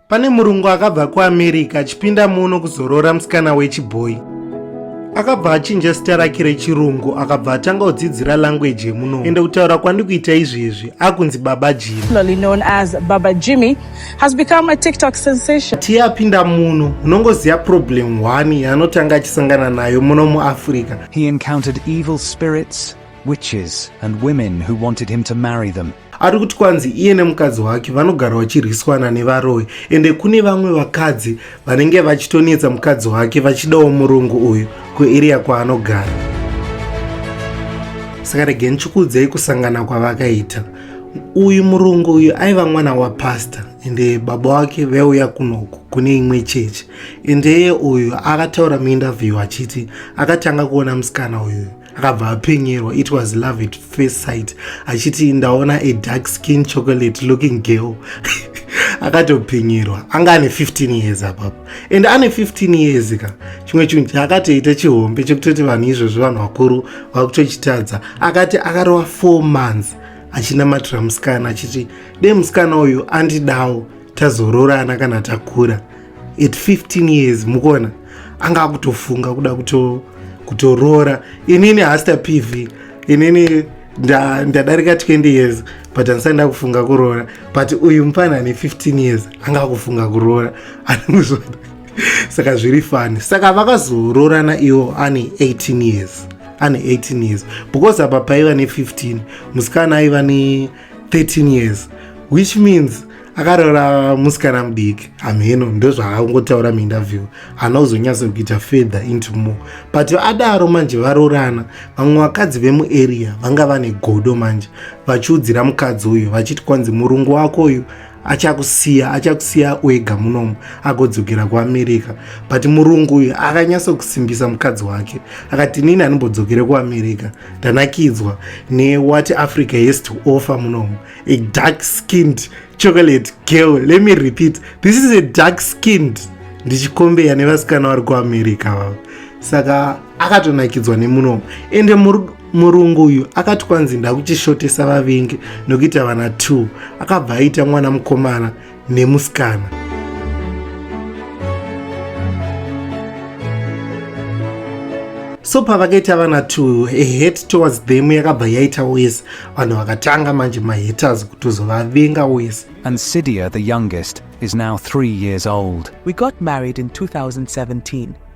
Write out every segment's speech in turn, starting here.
Pane murungu akabva kuAmerica achipinda muno kuzoroora musikana wechibhoyi. Akabva achinja sita rake rechirungu akabva atanga kudzidzira language yemuno ende kutaura kwandikuita izvezvi akunzi Baba Jimmy. Popularly known as Baba Jimmy has become a TikTok sensation. Tiye apinda muno unongoziva problem one yaanotanga achisangana nayo muno muAfrica. He encountered evil spirits witches and women who wanted him to marry them. ari kuti kwanzi iye nemukadzi wake vanogara vachirwiswana nevaroyi ende kune vamwe vakadzi vanenge vachitonetsa mukadzi wake vachidawo murungu uyu kueriya kwaanogara saka rege ndichikuudzei kusangana kwavakaita uyu murungu uyu aiva mwana wapasta ende baba wake vaiuya kunoku kune imwe chechi endeye uyu akataura muinterview achiti akatanga kuona musikana uyuyu akabva apenyerwa it was love at first sight achiti ndaona a dark skin chocolate looking girl akatopenyerwa anga ane 15 years apapo and ane 15 years ka chimwe chinhu chaakatoita chihombe chekutoti vanhu izvozvo vanhu vakuru vakutochitadza akati akarova 4 months achinamatira musikana achiti de musikana uyu andidawo tazororana kana takura at 15 years mukuona anga akutofunga kuda kuto kutoroora inini hasta pv inini ndadarika nda 20 years but andisati ndakufunga kuroora but uyu mupana ane 15 years anga akufunga kuroora anozvona saka zviri fani saka vakazoroorana iwo ane 18 years ane 18 years because apa paiva ne15 musikana aiva ne 13 years which means akaroora musikana mudiki hamheno ndozvaakungotaura muinterview haana kuzonyatso kuita fedha into more but adaro manje varoorana vamwe vakadzi vemuarea vanga vane godo manje vachiudzira mukadzi uyu vachiti kwanzi murungu wako uyu achakusiya achakusiya wega munomu agodzokera kuamerica but murungu uyu akanyatsokusimbisa mukadzi wake akati nini anombodzokere kuamerica ndanakidzwa newhat africa has to offer munomu a dark skinned chocolate girl let me repeat this is a dark skinned ndichikombeya nevasikana vari kuamerica vavo saka akatonakidzwa nemunomu ende murungu uyu akati kwanzi ndakuchishotesa vavengi nokuita vana t akabva aita mwana mukomana nemusikana so pavakaita vana t ahet towards them yakabva yaita wese vanhu vakatanga manje mahaters kutozovavenga wese and sidia the youngest is now three years old we got married in 2017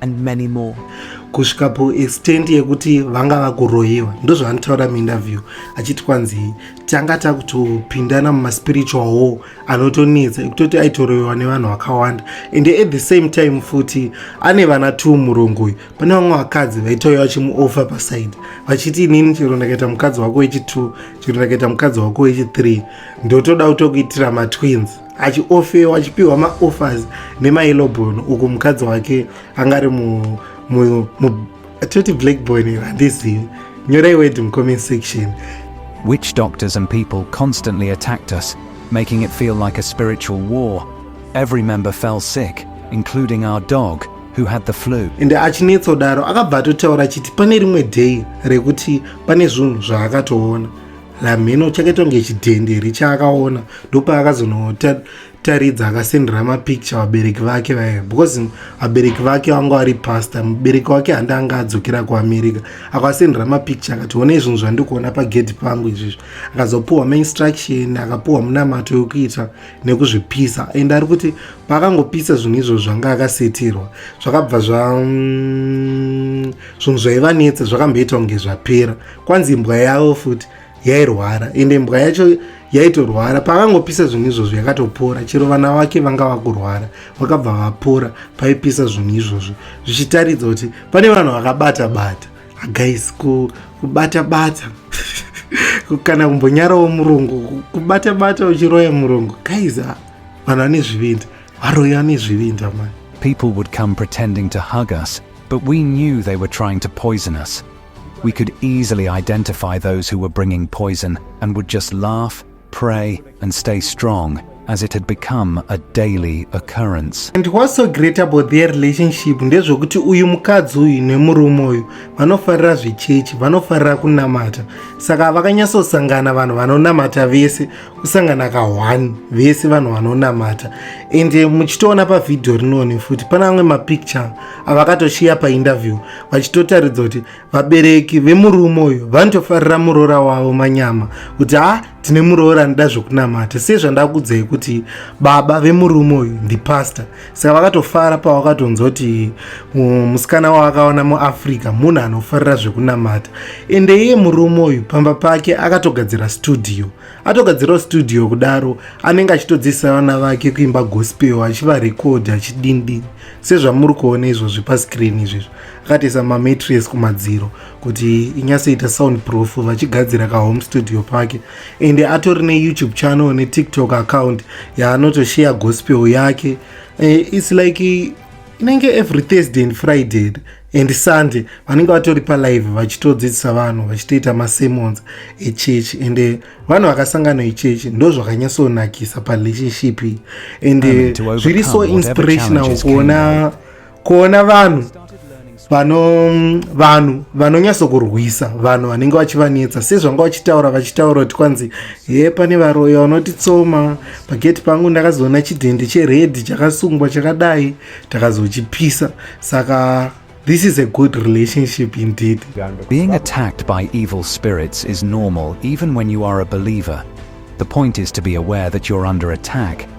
and many more kusvika paextent yekuti vanga vakuroyiwa ndozvavanotaura muinterview achiti kwanzi tanga takutopindana mumaspiritual war anotonetsa ekutoti aitoroyiwa nevanhu vakawanda and at the same time futi ane vana two murongo uyu pane vamwe vakadzi vaitouya vachimuofa paside vachiti inini chero ndakaita mukadzi wako wechitwo chero ndakaita mukadzi wako wechithree ndotoda kutokuitira matwins achiofewa achipiwa maoffers nemaelobon uku mukadzi wake anga ari toti black boy nero handizivi nyorai word mucomment section witch doctors and people constantly attacked us making it feel like a spiritual war every member fell sick including our dog who had the flu ende achinetsa kudaro akabva atotaura achiti pane rimwe day rekuti pane zvinhu zvaakatoona lamheno chakaitwa kunge chidhenderi chaakaona ndopaakazonotaridza akasendera mapicture vabereki vake vaye because vabereki vake vanga vari pastor mubereki wake handi anga adzokera kuamerica akasendera mapicture akati one izvinhu zvandikuona pagedhi pangu izvizvi akazopuhwa mainstruction akapuhwa munamato yokuita nekuzvipisa and ari kuti paakangopisa zvinhu izvo zvanga akasetirwa zvakabva zva mm, zvinhu zvaivanetsa zvakamboita kunge zvapera kwanzi imbwa yavo futi yairwara ende imbwa yacho yaitorwara pavangopisa zvinhu izvozvo yakatopora chero vana vake vanga vakurwara vakabva vapora paipisa zvinhu izvozvo zvichitaridza kuti pane vanhu vakabata bata agais kubata bata kana kumbonyarawo murungu kubata bata uchiroya murungu gais ah, vanhu vane zvivindi varoya vane zvivindi amai people would come pretending to hug us but we knew they were trying to poison us We could easily identify those who were bringing poison and would just laugh, pray, and stay strong as it had become a daily occurrence. And what's so great about their relationship ndezvokuti uyu mukadzi uyu nemurume uyu vanofarira zvechechi vanofarira kunamata saka vakanyatsosangana vanhu vanonamata vese kusangana ka one vese vanhu vanonamata and eh, muchitoona pavhidhiyo rinoni futi pane amwe mapicture avakatoshiya painterview vachitotaridza kuti vabereki vemurume uyu vanotofarira muroora wavo manyama kuti ha ah, tine muroora anoda zvekunamata sezvandakudzai kuti baba vemurume uyu ndipastor saka vakatofara pavakatonzwa kuti musikana wavakaona muafrica munhu anofarira zvekunamata ende iye murume uyu pamba pake akatogadzira studio atogadzirawo studio kudaro anenge achitodzidzisa vana vake kuimba gospel achivarekodhi achidindini sezvamuri kuona izvozvi pascreen izvezvo akatoisa mamatres kumadziro kuti inyatsoita sound proof vachigadzira kahome studio pake ende atori neyoutube channel netiktok account yaanotosheya gospel yake eh, its like inenge every thursday and friday and sunday vanenge vatori palive vachitodzidzisa vanhu vachitoita masemons echechi and eh, vanhu vakasangana echechi ndo zvakanyatsonakisa parelationship ende zviri so inspirational kuona kuona vanhu vano vanhu vanonyatsokurwisa vanhu vanenge vachivanetsa sezvanga vachitaura vachitaura kuti kwanzi he pane varoya vanotitsoma pageti pangu ndakazoona chidhende cheredhi chakasungwa chakadai takazochipisa saka This is a good relationship indeed. Being attacked by evil spirits is normal even when you are a believer. The point is to be aware that you're under attack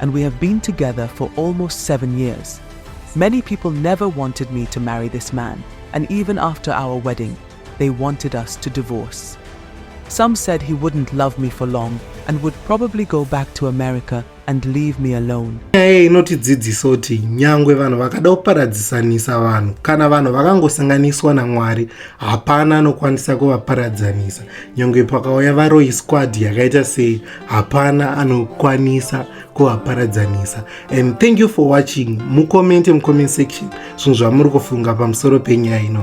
and we have been together for almost seven years. Many people never wanted me to marry this man, and even after our wedding, they wanted us to divorce. Some said he wouldn't love me for long and would probably go back to America and leave me alone. Hey, inotidzidzisa kuti nyangwe vanhu vakada kuparadzisanisa vanhu kana vanhu vakangosanganiswa naMwari hapana anokwanisa kuvaparadzanisa nyangwe pakauya varoyi squad yakaita sei hapana anokwanisa kuvaparadzanisa and thank you for watching mukomente mucomment section zvinhu zvamuri kufunga pamusoro penyaya ino